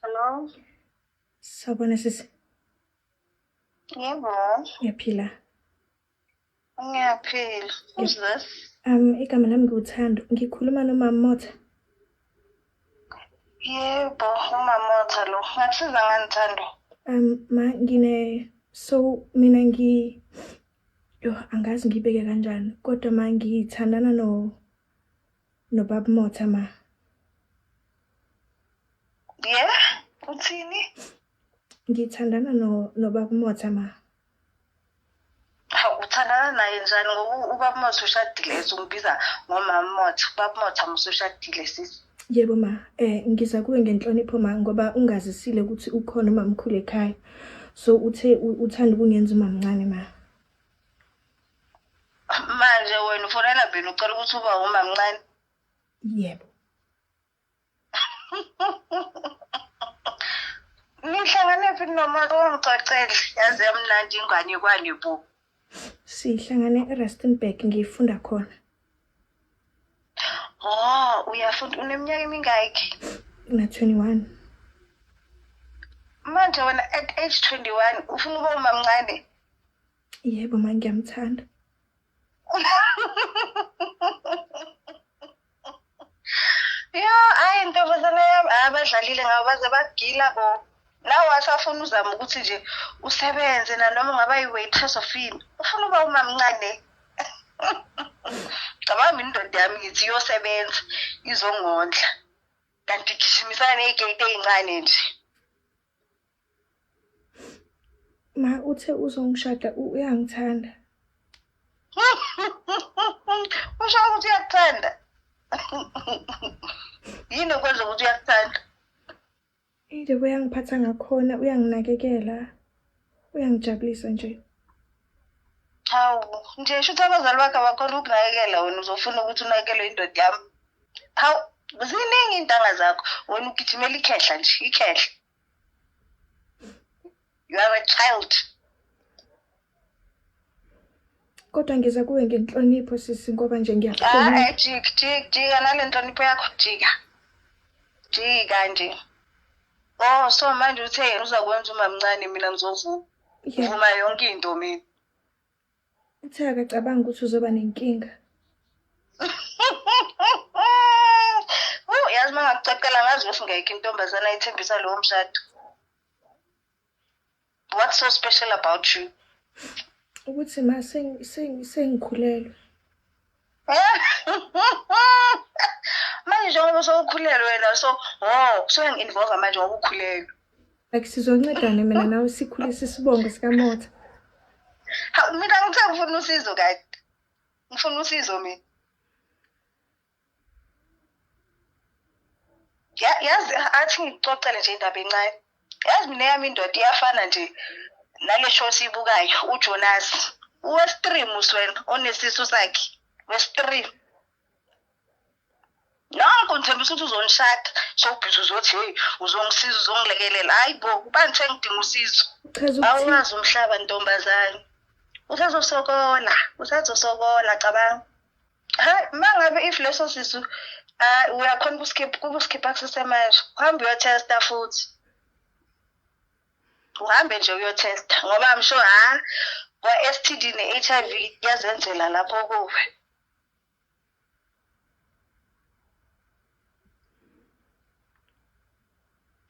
Hello. Sawubona sisi. Yebo. Ngiyaphila. Ngiyaphila. Who's this? Um igama lami ngiwuthando. Ngikhuluma nomama Motha. Yebo, umama Motha lo. Ngakusiza ngani Thando? Um ma ngine so mina ngi yo angazi ngibeke kanjani kodwa ma ngithandana no nobab Motha ma Yeah uthini Ngithandana no nobab Motha ma uthandana naye njani ngoba ubab Motha ushadile ezumbiza ngomam Motha ubab Motha musushadile sisi Yebo ma eh ngiza kuwe ngenhlonipho ma ngoba ungazisile ukuthi ukhona umamkhulu ekhaya so uthe uthanda ukungenza umamncane ma manje wena ufonela bini ucela ukuthi uba umamncane yebo nihlangane phi noma ungicocele yazi yamnandi ingwane ikwani bo sihlangane erustenburg ngiyifunda khona o oh, uyafunda uneminyaka emingaki na-twenty one manje wena at age twenty one ufuna uba umamncane Yebo ma ngiyamthanda. Yo ayi ntombazana yami abadlalile ngabo baze bagila bo. Nawe wasafuna uzama ukuthi nje usebenze nanoma ungaba yi-waitress of ini. Ufuna uba umamncane. Cabanga mina indoda yami ngithi iyosebenza izongondla. Kanti igijimisana ney'gate ey'ncane nje. Ma uthe uzongishada uyangithanda. Usho ukuthi uyakuthanda. Yini okwenza ukuthi uyakuthanda? Into uyangiphatha ngakhona uyanginakekela. Uyangijabulisa nje. Hawu, nje sho ukuthi abazali bakhe abakhona ukunakekela wena uzofuna ukuthi unakekelwe indoda yami. Hawu, ziningi iy'ntanga zakho. Wena ugijimela ikhehla nje, ikhehla. you are a child kodwa ngiza kuwe ngenhlonipho sisi ngoba nje ngiyakuhlonipha hayi jik jik jika nale nhlonipho yakho jika jika nje oh so manje uthe yena uzakwenza umamncane mina ngizovuma yonke into mina Uthe akacabanga ukuthi uzoba nenkinga. Wewe uyazi uma ngakucacela ngazi ukuthi ngeke intombazana ithembisa lowo mshado. What's so special about you? Ukuthi ma sengikhulelwe. manje njengoba sowukhulelwe wena so o oh, soyangi-involva manje ngoba ukhulelwe like sizoncedane mina nawe sikhulise isibongo sikamotha mina ngithe ngifuna usizo kade ngifuna usizo mina yazi athi ngixoxele nje indaba encane yazi mina yami indoda iyafana nje nale show siyibukayo ujonas uwestream uswena onesisu sakhe westream nonke ngithembisa ukuthi uzongishada sowubhizi uzothi heyi uzongisiza uzongilekelela hayi bo ubani sengidinga usizo awuwazi umhlaba ntombazane usazosokola usazosokola cabanga hayi mangabe if leso sisu hayi uyakhona ukuskip ukuskipha kusesemanje uhambe uyotesta futhi uhambe nje uyotesta ngoba i'm sure ha kwa-s t d ne-h i v kuyazenzela lapho kuwe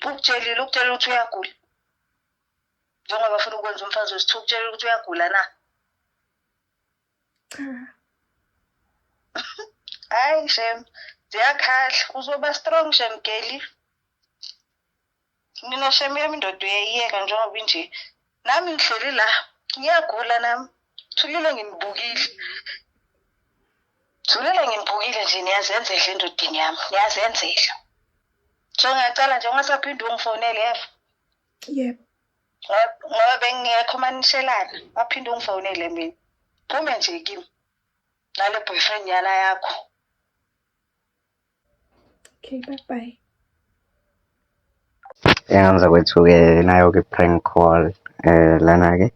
ukutshelile ukutshela ukuthi uyagula njengoba funa ukwenza umfazi wesithu ukutshela ukuthi uyagula na Cha. Hayi shem, ziyakhala. Uzoba strong shem geli. Mina shem yami indoda uyayiyeka njengoba inje. Nami ngihleli la, ngiyagula nami. Thulile nginibukile. Thulile nginibukile nje niyazenzela endodeni yami, niyazenzela. So ngiyacala nje ungasaphinde ungifonele yeva. yebo ngoba bengingekho manishelana waphinde ungifonele mina phume nje kimi nale boyfriend yana yakho okay bye bye yanza kwethu-ke nayo-ke prank call um lana-ke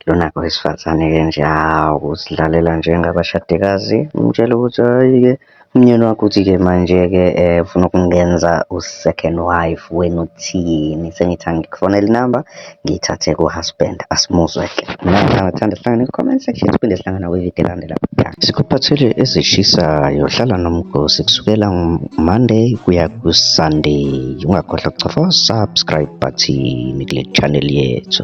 lonake wesifazane-ke nje hawu usidlalela njengabashadikazi umtshela ukuthi hhayi-ke Umyeni wakho uthi-ke manje-ke ufuna ukungenza u-second wife, wena uthini? Sengithi angikufonele inamba ngiyithathe ku-husband asimuzwe-ke. Mina nawe thanda sihlangane ku-comment section siphinde sihlangane nawe ividiyo elandela. Sikuphathele ezishisayo, hlala nomgosi kusukela Monday kuya ku-Sunday. Ungakhohlwa kuchofa subscribe button kule channel yethu.